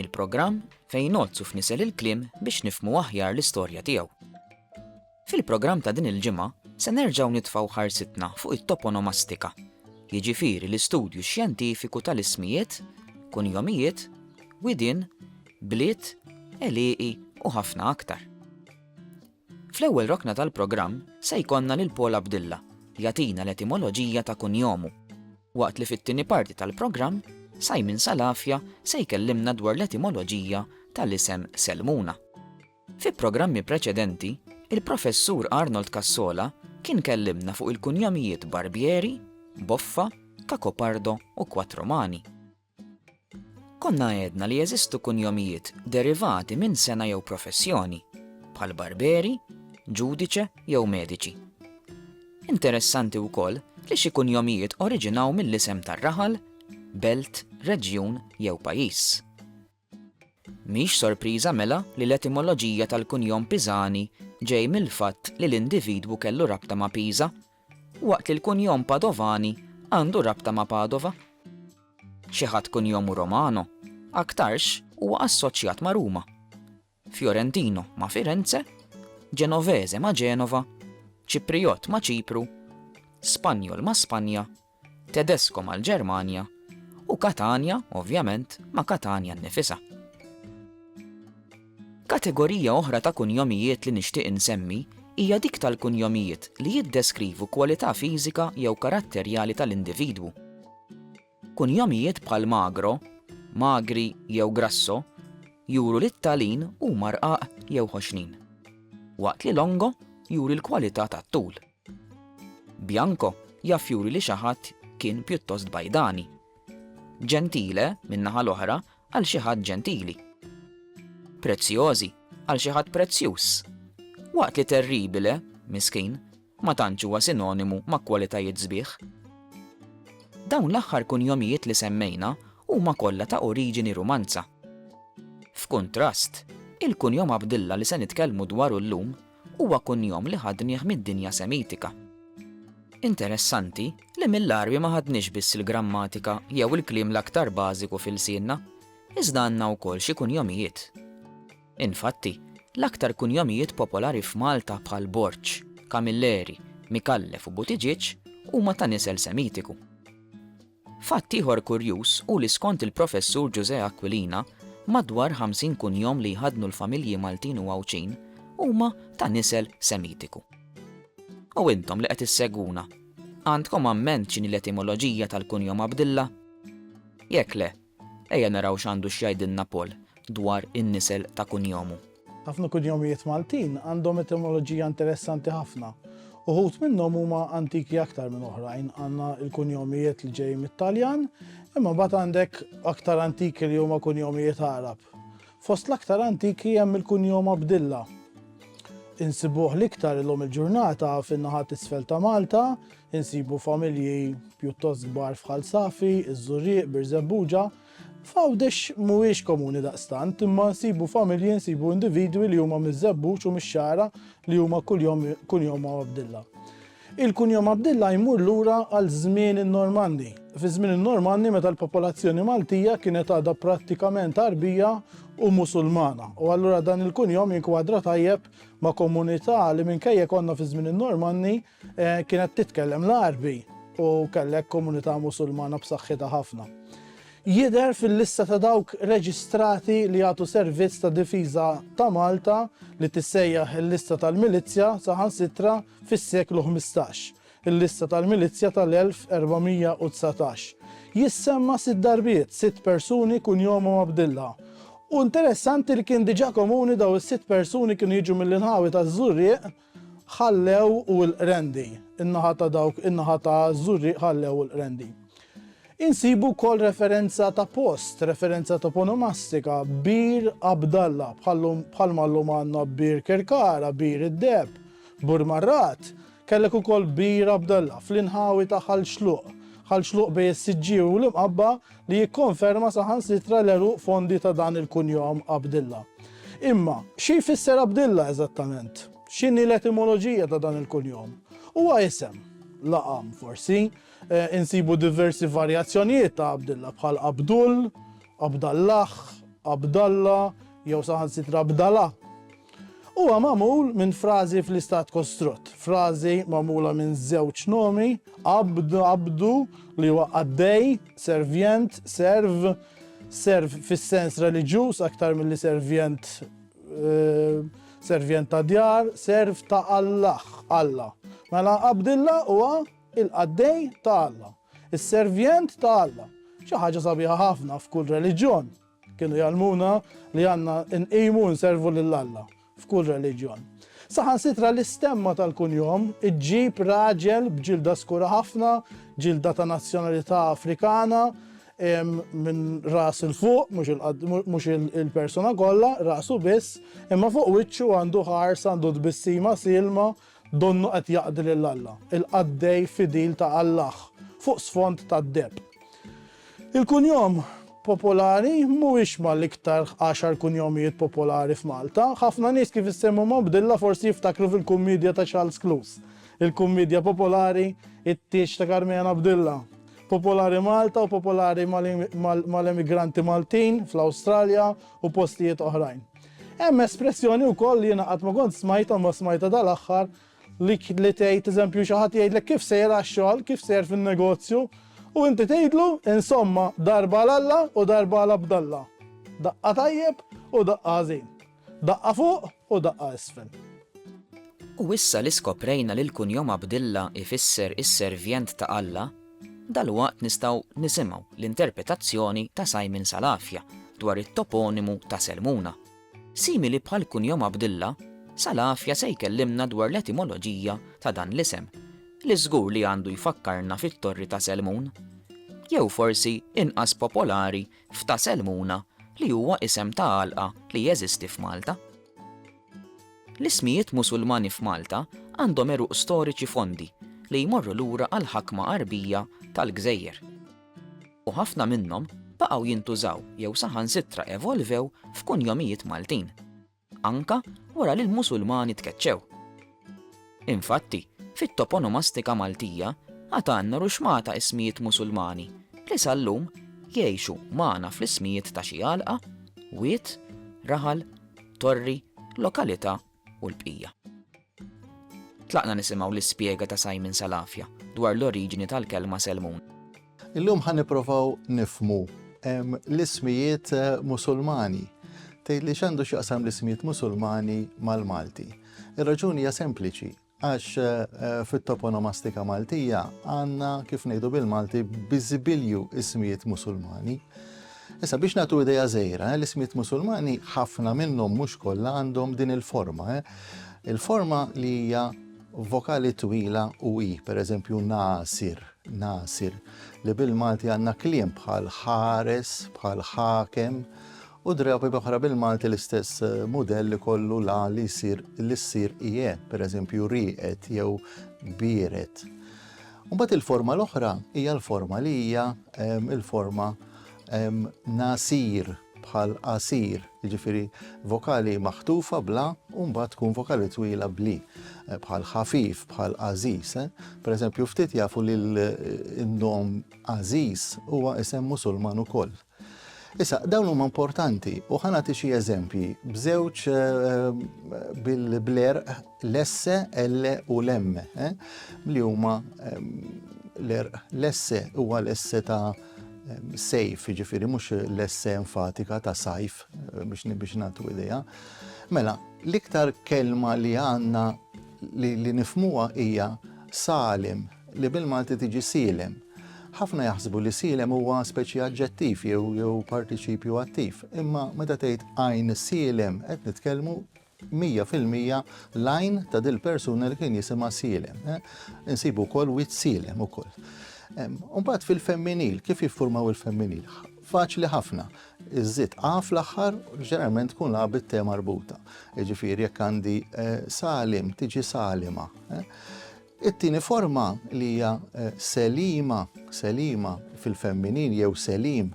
Il-programm fejn ngħodd u fnisel il-kliem biex nifhmu aħjar l-istorja tiegħu. Fil-programm ta' din il-ġimgħa se nerġgħu nitfgħu ħarsitna fuq it-toponomastika, jiġifieri l-istudju xjentifiku tal-ismijiet, kunjomijiet, widien, bliet, għelieqi u ħafna aktar. Fl-ewwel rokna tal-programm se jkollna lil Paul Abdilla jagħtina l-etimoloġija ta' kunjomu, waqt li fit-tieni parti tal-programm Simon Salafia se jkellimna dwar l-etimoloġija tal-isem Selmuna. Fi programmi preċedenti, il-Professur Arnold Cassola kien kellimna fuq il-kunjamijiet Barbieri, Boffa, Cacopardo u Quattromani. Konna għedna li jeżistu kunjomijiet derivati minn sengħa jew professjoni, bħal barberi, ġudice jew mediċi. Interessanti wkoll li xi kunjomijiet oriġinaw mill-isem tar-raħal, belt, reġjun jew pajjiż. Mhix sorpriża mela li l-etimoloġija tal-kunjom Pisani ġej mill-fatt li l-individwu kellu rabta ma' Pisa, waqt li l-kunjom Padovani għandu rabta ma' Padova. Xi ħadd kunjomu Romano aktarx huwa assoċjat ma' Ruma. Fiorentino ma' Firenze, Ġenovese ma' Ġenova, Ċiprijott ma' Ċipru, Spanjol ma' Spanja, Tedesko mal-Ġermanja u Katanja, ovvjament, ma' Katanja nnifisha. Kategorija oħra ta' kunjomijiet li nixtieq insemmi hija dik tal-kunjomijiet li jiddeskrivu kwalità fiżika jew karatterjali tal-individwu. Kunjomijiet bħal magro, magri jew grasso juru li t-talin huma rqaq jew ħoxnin, waqt li longo juri l-kwalità tat-tul. Bianco jaf juri li xi ħadd kien pjuttost bajdani. Gentile, min-naħa l-oħra, għal xi ħadd ġentili. Preziosi għal xi ħadd prezzjuż, waqt li terribile, miskin, ma tantx huwa sinonimu ma' kwalitajiet sbieħ. Dawn l-aħħar kunjomijiet li semmejna huma kollha ta' oriġini Rumanza. F'kuntrast, il-kunjom Abdilla li se nitkellmu dwaru llum huwa kunjom li ħadnieh mid-dinja Semitika. Interessanti li mill-Għarbi ma ħadniex biss il-grammatika jew il-kliem l-aktar bażiku f'ilsienna, iżda għandna wkoll xi kunjomijiet. Infatti, l-aktar kunjomijiet popolari f'Malta bħal Borg, Camilleri, Micallef u Buttigieg huma ta' nisel Semitiku. Fatt ieħor kurjuż hu li skont il-Professur Ġużè Aquilina, madwar 50 kunjom li jħaddnu l-familji Maltin u Għawdxin huma ta' nisel Semitiku. U intom li qed issegwuna, għandkom amment x'inhi l-etimoloġija tal-kunjom Abdilla? Jekk le, Ejja naraw x'għandu x'jgħidilna Paul dwar in-nisel ta' kunjomu. Ħafna kunjomijiet Maltin għandhom etimoloġija interessanti ħafna. Uħud minnhom huma antiki aktar minn oħrajn. Għandna l-kunjomijiet li ġejjin mit-Taljan, imma mbagħad għandek aktar antiki li huma kunjomijiet Għarab. Fost l-aktar antiki hemm il-kunjom Abdilla. Insibuh l-iktar illum il-ġurnata fin-naħa t'isfel ta' Malta, Insibu familji pjuttost kbar f'Ħal Safi, iż-Żurrieq, Birżebbuġa. F'Għawdex mhuwiex komuni daqstant, imma nsibu familji, nsibu individwi li huma miż-Żebbuġ u mix-Xagħra li huma kuljom kunjomhom Abdilla. Il-kunjom Abdilla jmur lura għal żmien in-Normanni. Fiż-żmien in-Normanni meta l-popolazzjoni Maltija kienet għadha prattikament Għarbija u Musulmana u allura dan il-kunjom jinkwadra tajjeb ma' komunità li minkejja konna fiż-żmien in-Normanni, Kienet titkellem l-Għarbi u kellek komunità Musulmana b'saħħitha ħafna. Jidher fil-lista ta' dawk reġistrati li jagħtu servizz ta' difiża ta' Malta li tissejjaħ il-Lista tal-Milizzja saħansitra fis-seklu ħmistax, il-Lista tal-Milizzja tal-1419. Jissemma sitt darbiet, sitt persuni kunjomhom Abdilla. U interessanti li kien diġà komuni dawn is-sitt persuni kienu jiġu mill-inħawi taż-Żurrieq, ħallew u l-Qrendi, in-naħa ta' dawk in-naħa ta' Żurrieq ħallew u l-Qrendi. Insibu wkoll referenza ta' post, referenza toponomastika, Bir Abdalla, bħalma llum għandna Bir Kirkara, Bir id-Deheb, Bur Marrat, kellek ukoll Bir Abdalla fl-inħawi ta' Ħal Xluq, Ħal Xluq bejn is-Siġġiewi u l-Imqabba, li jikkonferma saħansitra l-għeruq fondi ta' dan il-kunjom Abdilla. Imma, xi jfisser Abdilla eżattament? X'inhi l-etimoloġija ta' dan il-kunjom? Huwa isem, laqam forsi, eh, insibu diversi varjazzjonijiet ta' Abdilla bħal Abdul, Abdallah, Abdalla, jew saħansitra Abdala. Huwa magħmul minn frażi fl-istat kostrutt, frażi magħmula minn żewġ nomi, abd, abdu, li huwa qaddej, servjent, serv, serv fis-sens reliġjuż aktar milli servjent, servjent ta' djar, serv ta' Allah, Alla. Mela Abdilla huwa il-qaddej ta' Alla, is-servjent ta' Alla. Xi ħaġa sabiħa ħafna f'kull reliġjon. Kienu jgħallmuna li għandna nqimu u nservu lil Alla f'kull reliġjon. Saħansitra l-istemma tal-kunjom iġġib raġel b'ġilda skura ħafna, ġilda ta' nazzjonalità Afrikana, minn ras 'il fuq, mhux il-persuna kollha, rasu biss, imma fuq wiċċu għandu ħarsa, għandu tbissima sielma, Donnu qed jaqdi lil Alla, il-qaddej fidil ta' Allaħ, fuq sfond ta' deheb. Il-kunjom popolari mhuwiex mal-iktar għaxar kunjomijiet popolari f'Malta. Ħafna nies kif issemmhom hawn bdilla forsi jiftakru fil-kummiedja ta' Charles Cluse, il-kummiedja popolari It-Tieġ ta' Karmena Bdilla. Popolari Malta u popolari mal-emigranti Maltin fl-Awstralja u postijiet oħrajn. Hemm espressjoni wkoll li jiena qatt ma kont smajtha imma smajtha dal-aħħar li li tgħid eżempju xi ħadd jgħidlek kif sejjer għax-xogħol, kif sejjer fin-negozju u inti tgħidlu insomma darba għal Alla u darba għal Abdalla. Daqqa tajjeb u daqqa ħażin. Daqqa fuq u daqqa isfel. U issa li skoprejna li l-kunjom Abdilla jfisser is-Servient ta' Alla, Dalwaqt nistgħu nisimgħu l-interpretazzjoni ta' Simon Salafia dwar it-toponimu ta' Selmuna. Simili bħall-kunjom Abdilla, Salafia se jkellimna dwar l-etimoloġija ta' dan l-isem, li żgur li għandu jfakkarna fit-Torri ta' Selmun. Jew forsi inqas popolari f'Ta' Selmuna li huwa isem ta' għalqa li jeżisti f'Malta. L-ismijiet Musulmani f'Malta għandhom għeruq storiċi fondi li jmorru lura għall-ħakma Għarbija tal-gżejjer. U ħafna minnhom baqgħu jintużaw jew saħansitra evolvew f'kunjomijiet Maltin, anke wara li l-Musulmani tkeċċew. Infatti, fit-toponomastika Maltija għad għandna ruxmata ismijiet Musulmani li sal-lum jgħixu magħna fl-ismijiet ta' xi għalqa, wied, raħal, torri, lokalità u l-bqija. Tlaqna nisimgħu l-ispjega ta' Simon Salafia dwar l-oriġini tal-kelma Selmun. Illum ħa nipprovaw nifhmu l-ismijiet Musulmani. Tgħidli x'għandu x'jaqsam l-ismijiet Musulmani mal-Malti? Ir-raġuni hija sempliċi, għax fit-toponomastika Maltija għandna kif ngħidu bil-Malti biżibilju ismijiet Musulmani. Issa biex nagħtu idea żgħira, eh, l-ismiet Musulmani ħafna minnhom mhux kollha għandhom din il-forma. Eh. Il-forma li hija vokali twila u i, pereżempju nasir. Nasir, li bil-Malti għandna kliem bħal ħares, bħal ħakem, u drabi oħra bil-Malti l-istess mudell li kollu la li jsir li ssir ie, pereżempju rieqed jew biered. Mbagħad il-forma l-oħra hija l-forma li hija il-forma nasir. bħal qasir, jiġifieri vokali maħtufa bl-a u mbagħad tkun vokali twila bl-i, bħal ħafif, bħal għażiż. Eh? Pereżempju, ftit jafu li l-nom għażiż huwa isem Musulman ukoll. Issa, dawn huma importanti u ħanati xi eżempji b'żewġ eh, bil-bler l-esse, L u l-M eh, li huma eh, l-erq l-esse huwa l-esse ta' Sejf, jiġifieri mhux l-esse enfatika ta' sajf biex biex nagħtu idea. Mela, l-iktar kelma li għandna li, li nifmuha hija salim li bil-Malti tiġi silem. Ħafna jaħsbu li silem huwa speċi aġġettiv jew jew partiċipju attiv, imma meta tgħid għajn silem qed nitkellmu mija fil-mija l-għajn ta' dil-persuna li kien jisimha sielem. Insibu wkoll wiċċ sielem ukoll. Mbagħad fil-femminil, kif jiffurmaw il-femminil? Faċli ħafna. Iżżid A fl-aħħar ġeneralment tkun A bit-te marbuta. Jiġifieri jekk għandi eh, salim tiġi salima. Eh? It-tieni forma li hija Selima, Selima fil-femminil jew Selim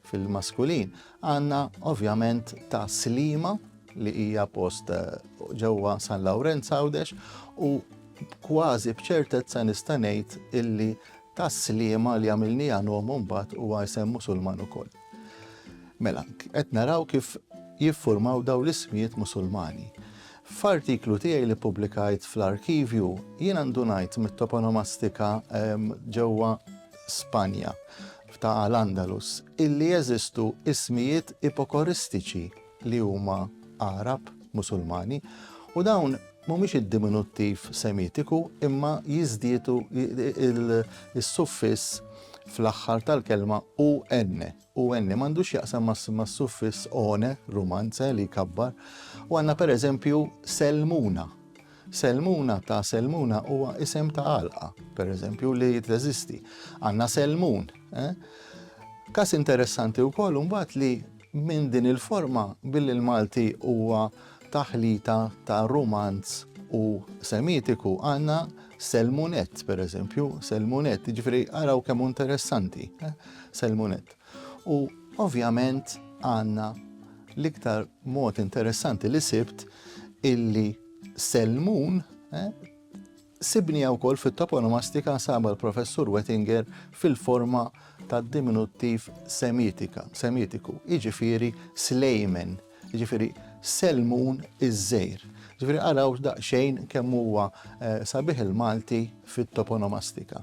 fil-maskulin, għandna ovvjament ta' Slima li hija post ġewwa San Lawrenz Għawdex u kważi b'ċertezza nista' ngħid illi ta' Sliema li għamilniha nom imbagħad huwa isem Musulman ukoll. Mela, qed naraw kif jiffurmaw dawn l-ismijiet Musulmani. F'artiklu tiegħi li ppubblikajt fl-Arkivju, jiena ndunajt mit-toponomastika ġewwa Spanja, ta' Al-Andalus, illi jeżistu ismijiet ipokoristiċi li huma Għarab, Musulmani, u dawn mhumiex id-diminuttiv Semitiku imma jiżdiedu, is-suffiss fl-aħħar tal-kelma, u-enne. u enne m'għandux x'jaqsam mas-suffiss one, rumanze, li jkabbar, u għandna pereżempju Selmuna. Selmuna ta' Selmuna huwa isem ta' għalqa, pereżempju, li teżisti. Għandna Selmun. Eh? Kas interessanti wkoll imbagħad li minn din il-forma billi l-Malti huwa taħlita ta' rumanz u semitiku għandna Selmunet, per eżempju, Selmunet, ġifri għaraw kemm interessanti, eh, Selmunet. U ovvjament għandna l-iktar mod interessanti li sibt illi Selmun eh, Sibniha wkoll fit-toponomastika nsabha l-Professur Wettinger fil-forma tad-diminuttiv Semitika, Semitiku, jiġifieri Slejmen, jiġifieri Selmun iż-Żgħir. Jiġifieri araw daqsxejn kemm huwa sabiħ il-Malti fit-toponomastika.